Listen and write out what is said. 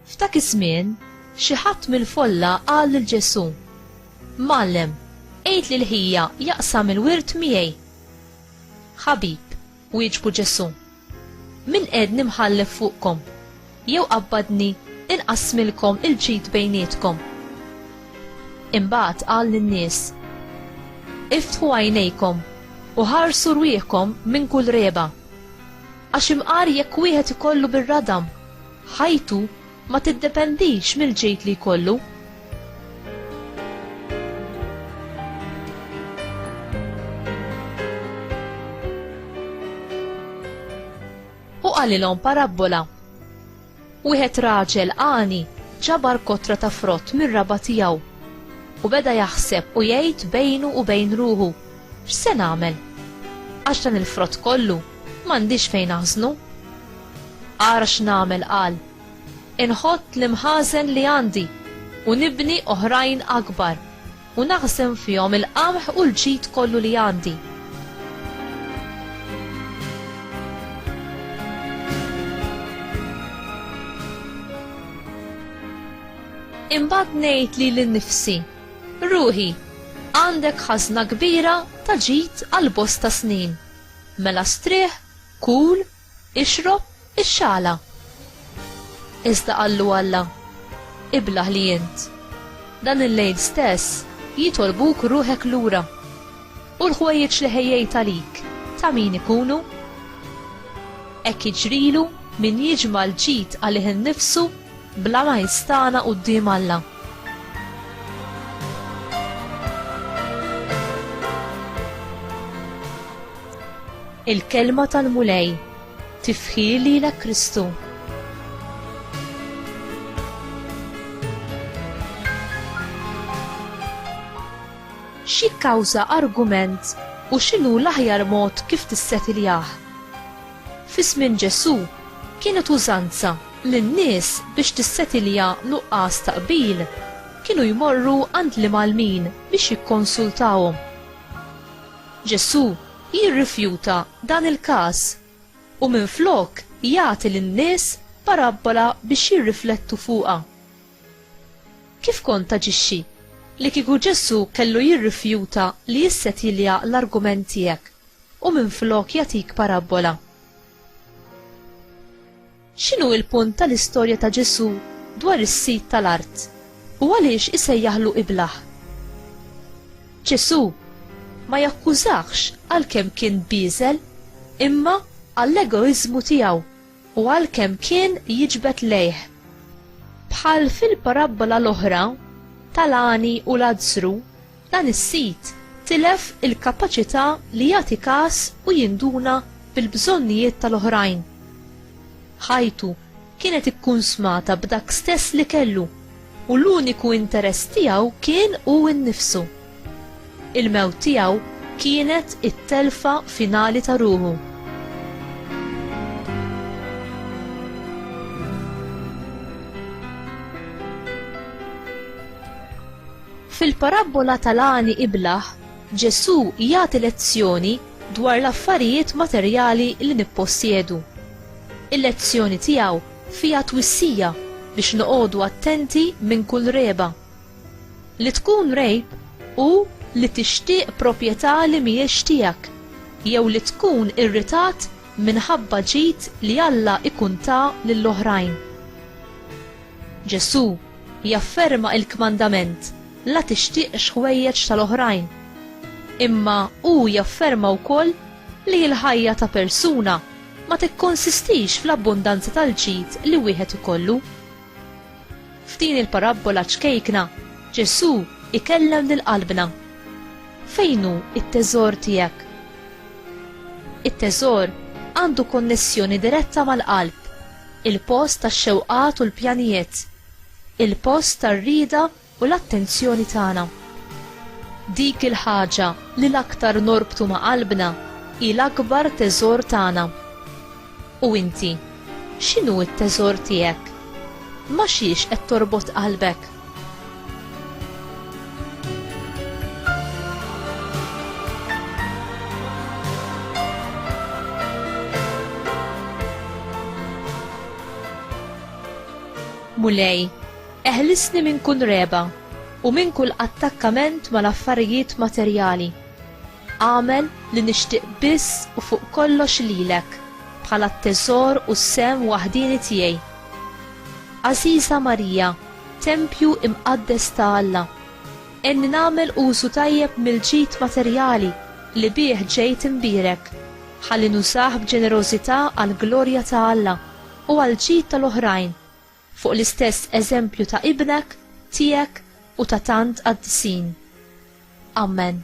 F'dak iż-żmien, xi ħadd mill-folla qal lil Ġesù, Mallem, għid lil ħija jaqsam il-wirt miegħi. Ħabib, Wieġbu Ġesù, Min qiegħedni mħallef fuqkom, jew qabbadni inqassmilkom il-ġid bejnietkom? Imbagħad qal lin-nies, Iftħu għajnejkom u ħarsu rwieħkom minn kull regħba. Għax imqar jekk wieħed ikollu bir-radam ħajtu, ma tiddependix mill-ġid li jkollu. U qalilhom parabbola. Wieħed raġel għani ġabar kotra ta' frott mir-raba' tiegħu u beda jaħseb u jgħid bejnu u bejn ruħu, X'se nagħmel? Għax dan il-frott kollu m'għandix fejn aħżnu. Ara x'nagħmel qal, Inħott l-imħażen li għandi u nibni oħrajn akbar u naħżen fihom il-qamħ u l-ġid kollu li għandi. Imbagħad ngħid li l-nifsi Ruħi, għandek ħażna kbira ta' ġid għal bosta snin. Mela strieħ, kul, ixrob, ixxala. Iżda qallu Alla, Iblah li int. Dan il-lejl stess jitolbuk ruħek lura. U l-ħwejjeġ li ħejjejt għalik ta' min ikunu? Hekk jiġrilu min jiġma' l-ġid għalih innifsu Bla ma jistagħna quddiem Alla. Il-Kelma tal-Mulej, tifħir lilek Kristu. X'jikkawża argument u x'inhu l-aħjar mod kif tissetiljah? Fi żmien Ġesù, kienet użanza li n-nies biex tissetilja nuqqas ta' qbil kienu jmorru għand l-imgħallmin biex jikkonsultahom. Ġesù jirrifjuta dan il-każ u minflok jagħti lin-nies parabbola biex jirriflettu fuqha. Kif kont taġixxi li kieku Ġesù kellu jirrifjuta li jissetilja l-argument tiegħek u minflok jagħtik parabbola. X'inhu l-punt tal-istorja ta' Ġesù dwar is-sid tal-art, u għaliex isejjaħlu iblah? Ġesù ma jakkużahx għalkemm kien bieżel, imma għall-egoiżmu tiegħu u għalkemm kien jiġbed lejh. Bħal fil-parabbola l-oħra tal-għani u Lazzru, Dan is-sit tilef il-kapaċità li jagħti kas u jinduna bil-bżonnijiet tal-oħrajn. Ħajtu kienet ikkunsmata b'dak stess li kellu u l-uniku interess tiegħu kien hu nnifsu. Il-mewt tiegħu kienet it-telfa finali ta' ruħu. Fil-parabbola tal-għani iblah, Ġesù jagħti lezzjoni dwar l-affarijiet materjali li nippossjedu. Il-lezzjoni tiegħu fiha twissija biex noqogħdu attenti minn kull regħba. Li tkun regħib hu li tixtieq proprjetà li mhijiex tiegħek jew li tkun irritat minħabba ġid li Alla jkun ta lil oħrajn. Ġesù jafferma il-kmandament la tixtieqx ħwejjeġ tal-oħrajn. Imma hu jafferma wkoll li l-ħajja ta' persuna ma tikkonsistix fl-abbundanza tal-ġid li wieħed ikollu. F'din il-parabbola ċkejkna, Ġesù ikellem lil qalbna. Fejn hu t-teżor tiegħek? It-teżor għandu konnessjoni diretta mal-qalb. Il-post tax-xewqat u l-pjanijiet. Il-post tar-rieda u l-attenzjoni tagħna. Dik il-ħaġa li l-aktar norbtu ma' qalbna hi l-akbar teżor tagħna. U inti, x'inhu t-teżor tiegħek? Ma' xiex qed torbot qalbek? Mulej, eħlisni minn kull regħba u minn kull attakkament mal-affarijiet materjali. Agħmel li nixtieq biss u fuq kollox lilek, bħala t-teżor u s-sehem waħdieni tiegħi. Għażiża Marija, tempju imqaddes ta' Alla, għenni nagħmel użu tajjeb mill-ġid materjali li bih ġejt imbierek, ħalli nużah b'ġenerożità għall-glorja ta' Alla u għall-ġid tal-oħrajn. fuq l-istess eżempju ta' ibnek, tiegħek u ta' tant qaddisin. Ammen.